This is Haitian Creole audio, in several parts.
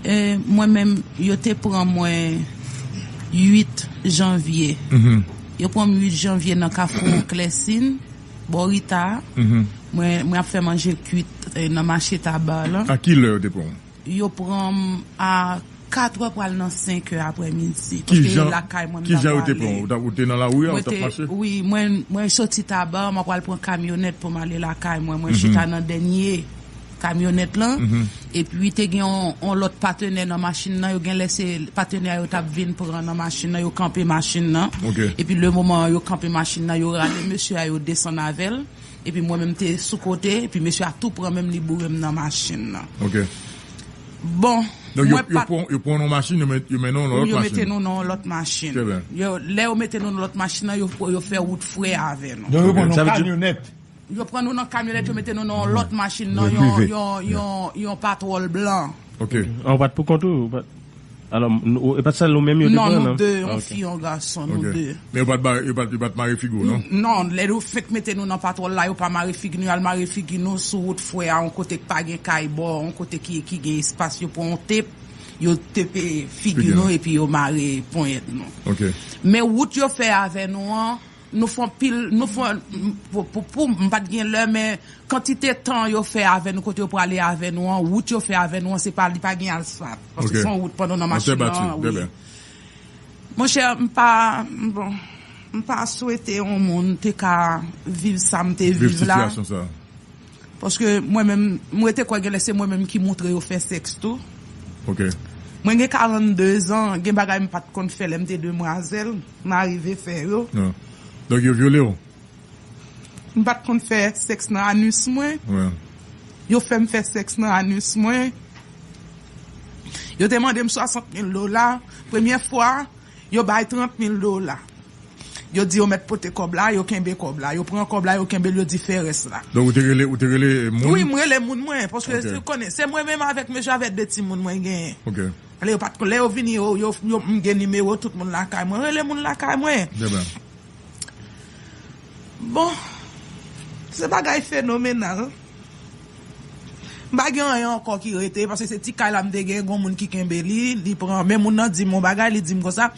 Mwen menm, yo te pran mwen 8 janvye. Yo pran m 8 janvye nan kafou Klèsin, bò Rita a. Mwen ap fè manje kuit nan mache Tabar lan. A ki lè yo te pran w? Yo pran m a katrè pral nan senkè aprèmidi. Ki jan yo te pran w? Ou te nan lari a, ou t ap mache? Wi, mwen soti Tabar, mwen pral pran kamyonèt pou m ale lakay mwen. Mwen chita nan dènye. kamyonèt lan epi te gen yon lòt patenè nan machin nan yo genlè se patenè a yo tap vin pran nan machin nan yo kanpe machin nan epi le moman yo kanpe machin nan yo rale mesye a yo desann avèl epi mwen menm te sou kote epi mesye a tou pran menm li bourem nan machin nan bon mwen pat yo pran nou nan machin yo mennen nou nan lòt machin yo mete nou nan lòt machin lè yo mete nou nan lòt machin nan yo fè wout fre avè nou sa vle di Yo pran nou nan kamyonèt yo mete nou nan yon lòt machin nan yon patwòl blan. Ok. Ah ou pat pou kont ou? Alò e pat sèl ou menm yo te pran nan? Non nou 2, yon fi yon gason nou 2. Men yo pat mare figi w non? Non lè yo fenk mete nou nan patwòl la yo pa mare figi nou yo al mare figi nou sou wout fwè a yon kote k pa gen kay bò yon kote ki gen espas yo pran yon tep yo tepe figi nou epi yo mare ponyèt nou. Ok. Men wout yo fè avè nou an. Nou fè yon pil, nou fè yon, pou, pou, m pat gen lè men kantite tan yo fè avè nou, kote yo prale avè nou an, wout yo fè avè nou an se pa, li pa gen asfalt, paske se yon wout pandan w nan machin nan an, wi. Monchè, m pa, bon, m pa swete yon moun te ka viv sa m te viv la. Viv sitiyasyon sa. Paske mwen menm, m rete kwè genlè se mwen menm ki moutre yo fè sèks tou. Mwen gen 42 zan, gen bagay m pat konn fè lè m te demwazèl, m arive fè yo. Donk yo vyole w? M pat konn fè sèks nan anus mwen, yo fè m fè sèks nan anus mwen. Yo te mande m 60 mil dola, premyè fwa. Yo bay 30 mil dola. Yo di yo mèt pote kòb la, yo kenbe kòb la. Yo pran kòb la, yo kenbe l, yo di fè rès la. Donk ou te rele, ou te rele moun? Wi, m rele moun mwen, paske ou konnen, se mwen menm avèk mesye avèk 2 timoun mwen genyen. Ok. Lè yo pa t, lè yo vini yo, yo, yo, m gen nimewo tout moun lakay mwen. M rele moun lakay mwen. Byen ba. Bon, se bagay fenomenal. M pa gen anyen ankò ki rete, paske se ti kay la m te gen, gon moun ki kenbe li, li pran, men moun nan di m yon bagay, li di m konsa,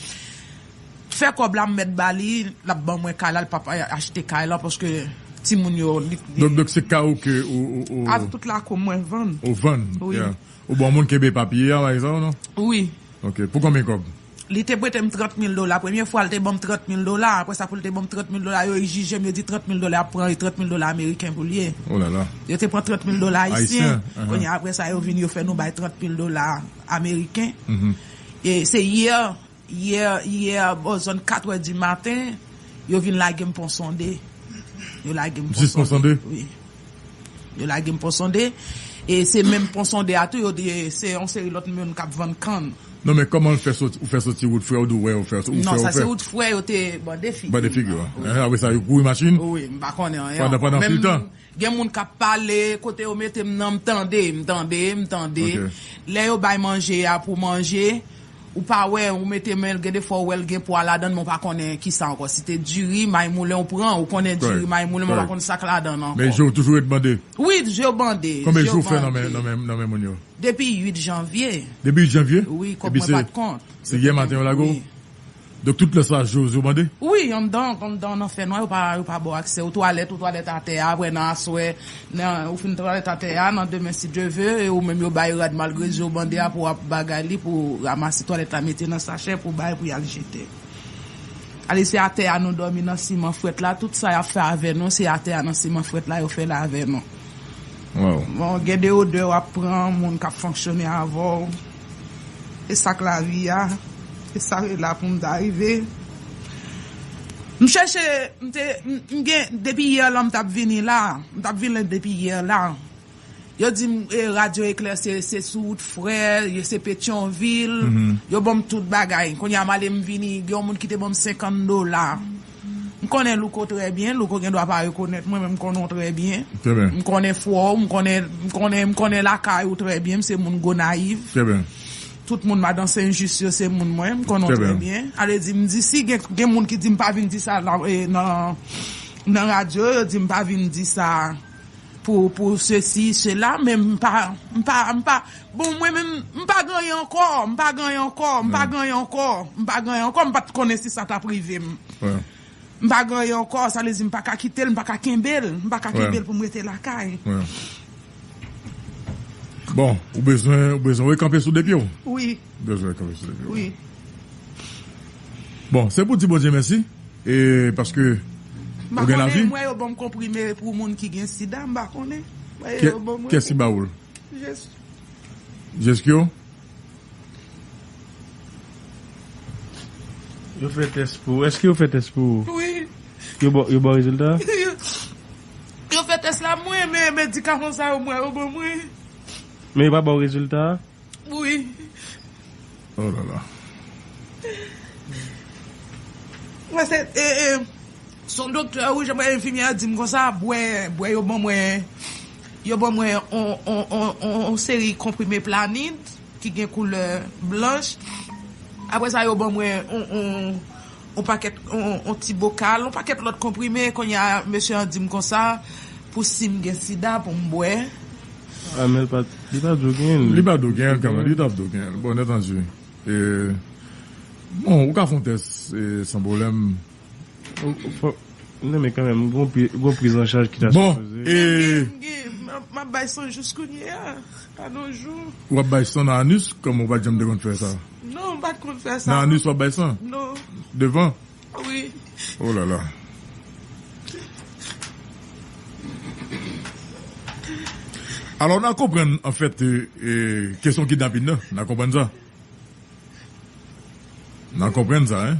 fè kòb la m mèt ba li, l ap ban mwen kay la, l pap achte kay la, paske timoun yo, li t gen. Donk se kay ou ke ou. Avk tout lakou m mwen vann. Ou vann? Wi. Ou ban moun kenbe papye a, bagay sa yo non? Wi. Ok, pou konbyen kòb? Li te prete m trant mil dola. Premye fwa l te ban m trant mil dola. Apre sa pou l te ban m trant mil dola, yo ijije m, yo di trant mil dola y ap pran e trant mil dola ameriken pou l ye. Yo te pran trant mil dola ayisyen. Kounye a apre sa yo vin yo fè nou bay trant mil dola ameriken. E se yè, yè, yè bò zòn katwè di maten, yo vin lage m Ponsonde. Yo lage m Ponsonde. Jis Ponsonde? Wi. Yo lage m Ponsonde, e se menm Ponsonde a tou yo di se yon seri lòt moun k ap vann kann. Non men kòman l fè soti, ou fè soti wout frè ou di w wè ou fè, ou fè ou fè? Non, sa se wout frè yo te bande figi m nan. Bande figi w an. Wi. Apre sa yo kouri machin? Wi. M pa konnen anyen ankò. Pandan menm tan? Gen moun k ap pale, kote yo mete m nan m tande, m tande, m tande. Ok. Lè yo bay manje a pou manje. Ou pa wè, ou mete menl gen de fwa ou wèl gen pwa ladann men ou pa konnen kisa ankò si te diri may moulen ou pran ou konnen diri may moulen men ou pa konn sak ladann ankò. Men jew toujou ret bande? Wi jew bande. Konbyen jou ou fè nan men nan men moun yo? Depi 8 janvye. Depi 8 janvye? Wi kòb mwen pat kont. Se yè maten yo lage w? Wi. Donk tout lè sa Jose yo mande? Wi, anndan anndan nan fènwa yo pa yo pa ba w aksè ou twalèt ou twalèt atè a aprè nan aswè nan ou fin twalèt atè a nan demen si Dye ve e ou menm yo bay rad malgrezi yo mande a pou w ap bagay li pou w ramase twalèt la mete nan sachè pou w bay pou y al jete ale se atè a nou dòmi nan siman frèt la tout sa y ap fè avè nou se atè a nan siman frèt la yo fè l avè nou bon gen de odè w ap pran moun k ap fonksyone avè w. E sak lavi a, e sa e la poum ta rive. M chèche m te m gen depi hier la m tap vini la, m tap vin la depi hier la. Yo dim e radyo eklèse se sou wout frè, yo se petyonvil, yo banm tout bagay. Kounya m ale m vini, gen yon moun ki te banm 50 dola. M konnen Louko trè byen, Louko gen dwa pa rekonèt mwen men m konnen w trè byen. Trè byen. M konnen fwa w, m konnen, m konnen, m konnen lakay ou trè byen, m se moun Gonayiv. Trè byen. Tout moun Madan Senjis yo se moun mwen, m konnen w trè byen. A vle di m di si gen, gen moun ki di m pa vin di sa nan, nan radyo, yo di m pa vin di sa. pou sesi sela men m pa m pa m pa bon mwen menm m pa gen anyen ankò m pa gen anyen ankò m pa gen anyen ankò m pa gen anyen ankò m pa t konnen si sa ta p rive m m pa gen anyen ankò sa vle di m pa ka kite l m pa ka kenbe l m pa ka kenbe l pou m rete lakay bon ou bezwen ou bezwen rekanpe sou de pye w wi. Bon se pou di Bondye mèsi e paske ou gen lavi. Kèsi bawoul? Jeskyo? Yo fè tès pou ou? Eske yo fè tès pou ou? Wi. Yo ba ou rezilta? Yo fè tès la mwen men medikaman sa yo mwen yo ban mwen. Men yo pa ba ou rezilta? Wi. Oh la la. Mwen se son doktè wi jan enfimyè a dim konsa bwè bwè yo ban mwen yo ban mwen yon seri konprime planid ki gen koulè blanch aprè sa yo ban mwen yon on pakèt on ti bokal on pakèt lòt konprime kounye a mesye an di m konsa pou si m gen sida pou m bwè. A men l pa li pa di w genyen l. Li pa di w genyen l kanmenm li ta p di w genyen l bon nètanji e bon ou ka fè on tès e san pwoblèm fòk nan men kanmenm gon pri gon prizanchaj ki ta sipoze. Bon e. M ap bay san jous kounye a pa nou jou. Ou ap bay san nan anus kòm ou pa janm te konn fè sa. Non mpat konn fè sa non. Nan anus wap bay san? Non. Devan? Wi. Oh lala. Alò na konprann anfèt kesyon kidnapin nan, na konprann sa. Na konprann sa hein.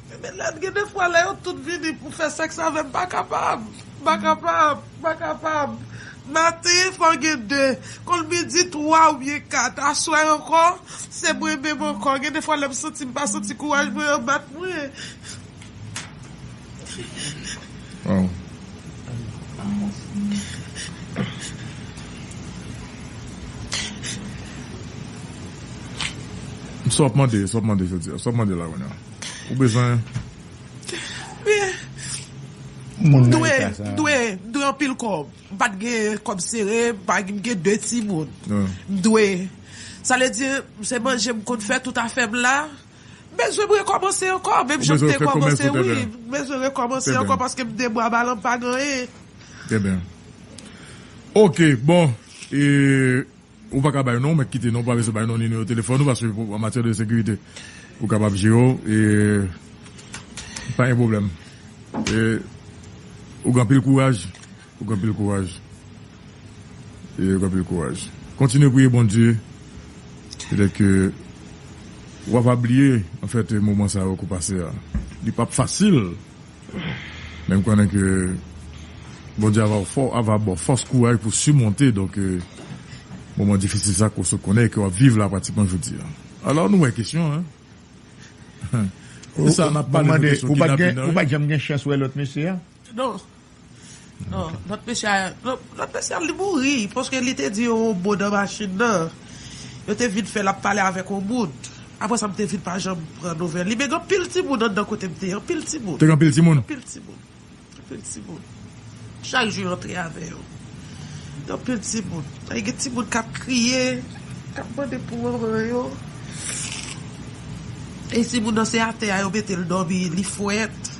Men Benlèt gen de fwa lè yo tout vini pou fè sèks avè m m pa kapab, m pa kapab, m pa kapab. Maten fò gen de, konn midi twa oubyen kat. Aswè ankò, se mwen menm ankò. Gen de fwa lè m santi m pa santi kouraj mwen an bat mwen. Ou bezwen. M dwe, m dwe, m dwe anpil kòb. M pa t gen kòb sere, m pa gen, m gen 2 timoun. M dwe. Sa vle di, se manje m konn fè tout afè m la. M bezwen m rekòmanse ankò, menm jan m te kòmanse wi. M bezwen rekòmanse ankò paske m de bwa ba lan m pa gen anyen. Trè byen. Ok, bon, e. Ou paka bay non, mèt kite non pa bezwen bay non ni nimewo telefòn ou paske pou an matyè de sekirite ou kapab jere w e pa gen pwoblèm e ou gen anpil kouraj ou gen anpil kouraj e ou gen anpil kouraj kontinye priye Bondye petèt ke wap va bliye anfèt moman sa yo ke w pase a li pap fasil. Men m konnen ke Bondye ava baw fòs kouraj pou simonte donk moman difisil sa ke w sot konnen e ke wap viv la pratikman jodi a. Alò nou wè kesyon an. Kisa nap pale de kesyon kidnapin nan wi? Ou pat janm gen chans wè lòt mesye a? Non. Lòt mesye a Lòt mesye a li mouri paske li te di yon mo nan machin nan Yo te vin fè l ap pale avèk yon moun Apre sa m te vin pa janm pran nouvèl li Men gen anpil timoun anndan kote m te ye Anpil timoun Te gen anpil timoun? Anpil timoun Anpil timoun Chak jou yo antre avè yo Gen anpil timoun Ay gen timoun k ap kriye K ap mande pou manman yo E timoun nan se atè a yo mete l dòmi Li frèt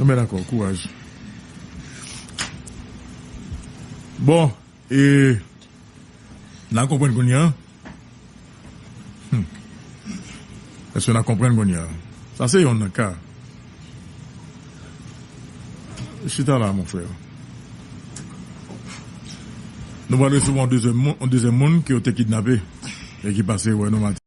Anben dakò, kouraj. Bon, e n a konprann kounye an? Hum. Èske n a konprann kounye an? Sa se youn nan ka. Chita la, mon frère. Nou pral resevwa yon dezyèm moun ke yo te kidnape e ki pase wè nou maten.